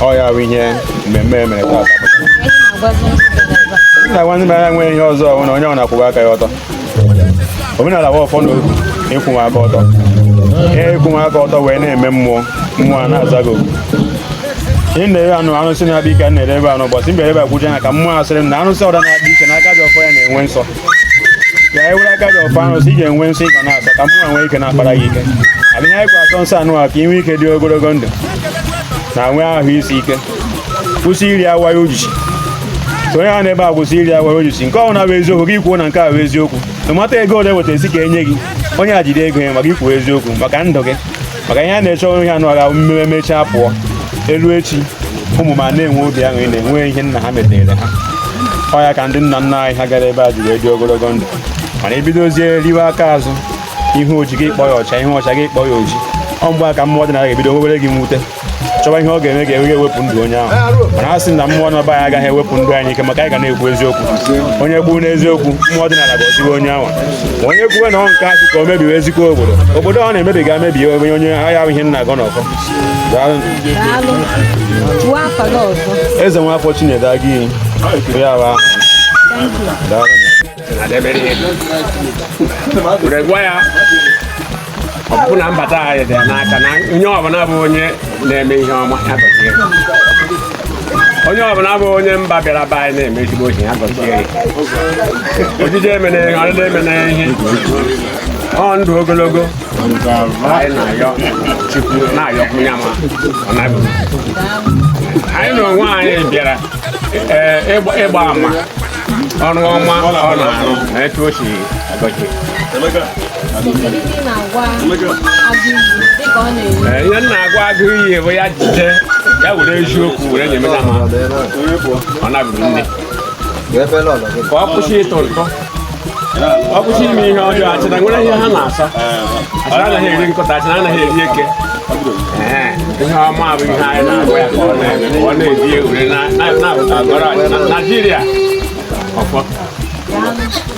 ọ ya bụ ihe mmemme e mere taata nna nwanne m anya nwere ihe ọzọ ọhụrụ na onye ọ na-akwụba aka ya ọtọ omenala bụ ọfọ na ịkwụwa aka ọtọ ihe ịkwụwa aka ọtọ wee na-eme mmụọ mmụọ a na-aza gị na-ere anụ arụsị na-akpa ike na-ere ebe anụ ụbọchị mberede akwụje ya ka mmụọ asịrị m na arụsị ọda na-akpa ike na aka ji ọfọ ya na-enwe nsọ ya ewere aka ji ọfọ arụsị iji enwe nsọ ị ga na-asọ ka mmụọ nwee ike na-akpara gị ike adịghị anyị kwa atọ nsọ anwa ka i nwee ike dị ogologo ndụ na nwee ahụ isi ike kwụsị iri awa ya ojiji so onye ahụ na-ebe a kwụsị iri awa ya ojiji nke ọnwụ na-abụ eziokwu gị kwuo na nke a bụ eziokwu na mata ego ole e weta sị ka e nye gị onye a jide ego ya ma gị kwuo eziokwu maka ndụ gị maka ihe a na-achọ bụ ihe anyị ga-eme mechaa pụọ e luo echi ụmụ m a na-enwe obi aṅụrị na-enwe ihe nna ha metere ha ọ ya ka ndị nna nna anyị ha gara ebe a ji wee dị ogologo ndụ mana i bidozie riwe aka azụ ihe oji gị kpọ ya ọcha ihe ọcha gị kpọ ya oji ọ mgbe a ka mmụọ ọdịnala ga-ebido nwewere gị mwute chọwa ihe ọ ga-eme ka e wee wepụ ndụ onye ahụ mana a sị na mmụọ na anyị agaghị ewepụ ndụ anyị n'ike maka anyị ga na-ekwu eziokwu onye kwụrụ n'eziokwu mmụọ ọdịnala ga-eduwe onye ahụ onye kwuwe na ọ nke asị ka o mebiwe ezigbo obodo obodo ọ na-emebi ga-emebi onye onye ahịa ahụ ihe m na-agọ n'ọfọ ezenwafọ chinedu agụiyi ya bụ ahụ daalụ ọpụpụ na mbata anyị dị n'aka na onye ọbụla bụ onye na-eme ihe ọma ya gọzie onye ọbụla bụ onye mba bịara be anyị na-eme ezigbo ihe ya gọzie ojije emena ihe ọdịda emena ihe ọ ndụ ogologo anyị na-ayọ chukwu na-ayọkwu ya ma ọ na-abụ anyị na onwe anyị bịara ịgba ama ọrụ ọma ọ na-arụ na etu o si agọzi ihe m na-agwa agụiyi bụ ya jide ya were eziokwu were nye mena ma ọ nabụrụ nne ka ọ kwụsị ịtụ ntụ ọ kwụsị ime ihe ọjọọ achịna nwere ihe ha na-asọ achịna anaghị eri nkụta achịna anaghị eri eke ihe ọma bụ ihe anyị na-agwa ya ka ọ na-eme ka ọ na-ebi ewere na-abụta agọrọ achịna naijiria ọfọ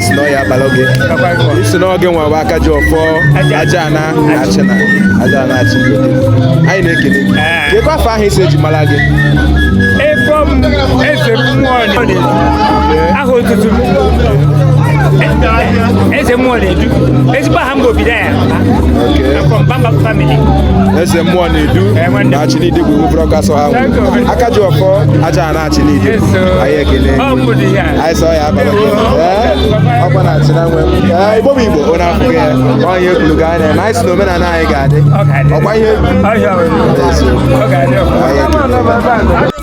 si na ọ ya abalị oge isi na oge nwa bụ aka ji ọfọ aja ana achịna aja ana achịna anyị na-ekele gị kekwa afọ ahụ isi e ji mara gị efọm eze mmụọ aha otutu eze mmụọ na-edu ezigbo aha mgbe obido eze mmụọ na-edu na Achịna Idegwu buru ọkụ asọghị anwụ aka ji ọfọ Ajana Achịna Ide anyị ekele anyị sọ ya abara ọkwa na Achịna nwe igbo bụ igbo ọ na-afụ ya onye ekwuru ga anya na anyị sị na omenala anyị ga-adị ọkwa ihe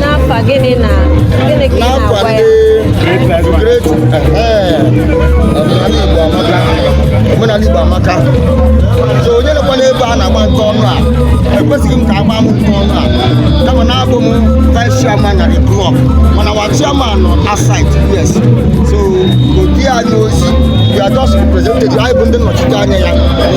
n'afa gịnị na gịnị ka ị na-agwa ya omenala Igbo amaka so onye nekwa n'ebe a na-agba nke ọnụ a ekwesịghị m ka agba m nke ọnụ a kama na abụ m vice chairman na the club mana our chairman nọ outside yes so o zi anyị ozi we are just representative anyị bụ ndị nnọchite anya ya